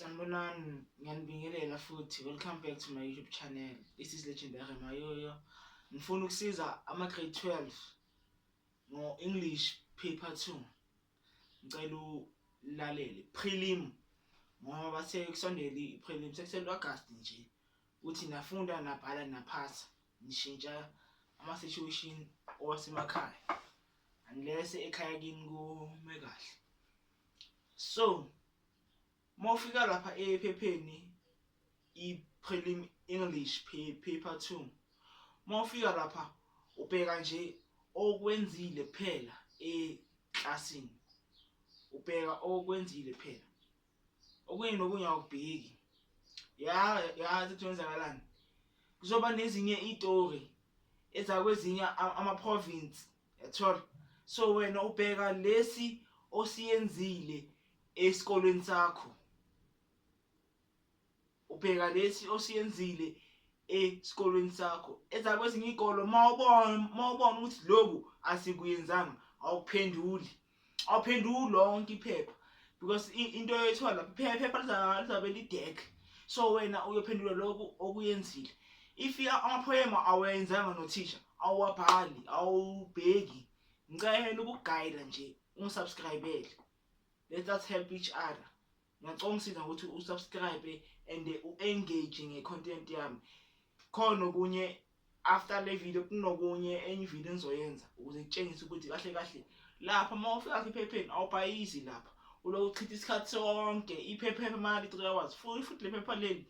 Sanibonani, ngiyanibingelela futhi. Welcome back to my YouTube channel. This is Legendary Mayoyo. Ngifuna ukusiza ama-grade 12 ngo-English paper 2. ngicela ulalele prelim ngoba bathe kusondele i-prelim sekusele u-agasti nje uthi nafunda nabhala naphasa nishintsha ama-situation owasemakhaya unless ekhaya kini kume kahle so Mawufika lapha ephepheni i-prelim English paper 2 mawufika lapha ubheka nje okwenzile kuphela eklasini ubheka okwenzile kuphela okunye nokunye awubheki ya yazi ukuthi wenzakalani kuzoba nezinye itori ezakwezinye ama-province yathola so wena ubheka lesi osiyenzile esikolweni sakho ubheka lesi osiyenzile esikolweni sakho ezakwezinye iy'kolo mawubona mawubona ukuthi loku asikuyenzanga awuphenduli awuphenduki lonke iphepha because into yoyithola lapho iphepha lizabe lidek so wena uyophendula lokhu okuyenzile if amaphoyema awenzanga nothisha awuwabhali awubheki ngicela ukugayida nje ungisubscribele let us help each other Ngiyacela ungisiza ukuthi usubscribe and u-engage nge-content yami khona okunye after le video kunokunye enye ivideo engizoyenza ukuze ngitshengise ukuthi kahle kahle lapha uma ufika ephepheni awubhayizi lapha uloku uchitha isikhathi sonke iphepha emali 3 hours futhi futhi le phepha leli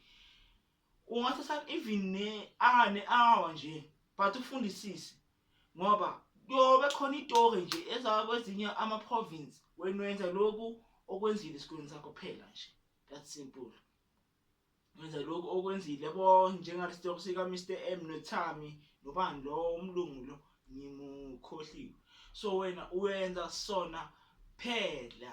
ungathatha even ne hour ne hour nje but ufundisise ngoba kuyobe khona itory nje ezaba kwezinye ama province wena wenza lokhu okwenzile esikoleni sakho phela nje that simple wenza lokhu okwenzile yabo njengalesitoko sika Mr M noThami nobani lo umlungu lo ngimukhohliwe so wena uyenza sona phela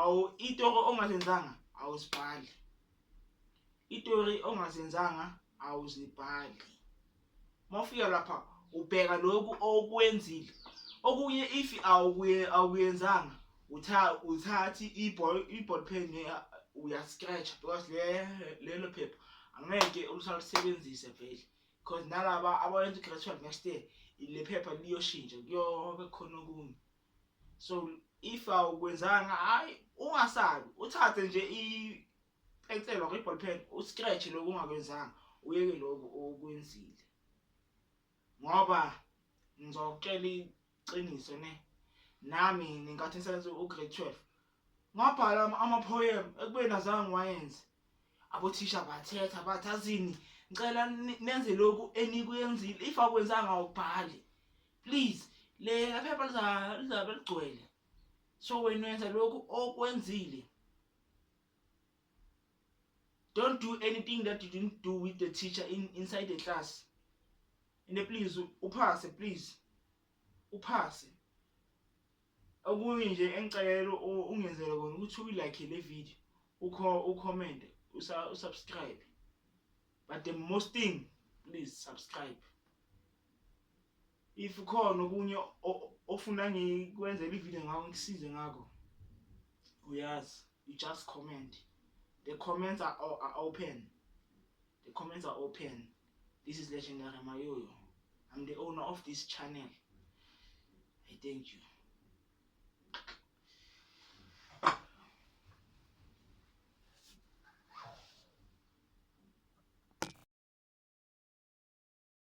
awu itori ongazenzanga awuzibhali itori ongazenzanga awuzibhali mawufika lapha ubheka lokhu okwenzile okunye if awukuye awuyenzanga utha uthathi iball iball pen uya scratch because le lelo phepha angeke ulusalisebenzise vele because nalaba abayenza gradual next year le phepha liyoshintsha kuyobe khona okunye so if awukwenzanga hayi ungasabi uthathe nje ipensela or iball pen uscratch lokho ungakwenzanga uyeke lokho okwenzile ngoba ngizokutshela iqiniso ne nami ngenkathi ngisebenza ugrade 12 ngabhala ama-poem ekubeni azange ngiwayenze abothisha bathetha bathi azini ngicela nenze lokhu enikwenzile if akwenzanga awubhali please lela phepha liza- lizabe ligcwele so wena wenza lokhu okwenzile don't do anything that you didn't do with the teacher in, inside the class and then please u- uphase please uphase okunye nje engicela u- ungenzele kona ukuthi uyilike le video ukho ucomment usa- usubscribe but the most thing please subscribe if khona okunye ofuna ngikwenzele ivideo ngawo ngikusize ngakho uyazi you just comment the comments are, are open the comments are open this is legendary mayoyo i'm the owner of this channel i thank you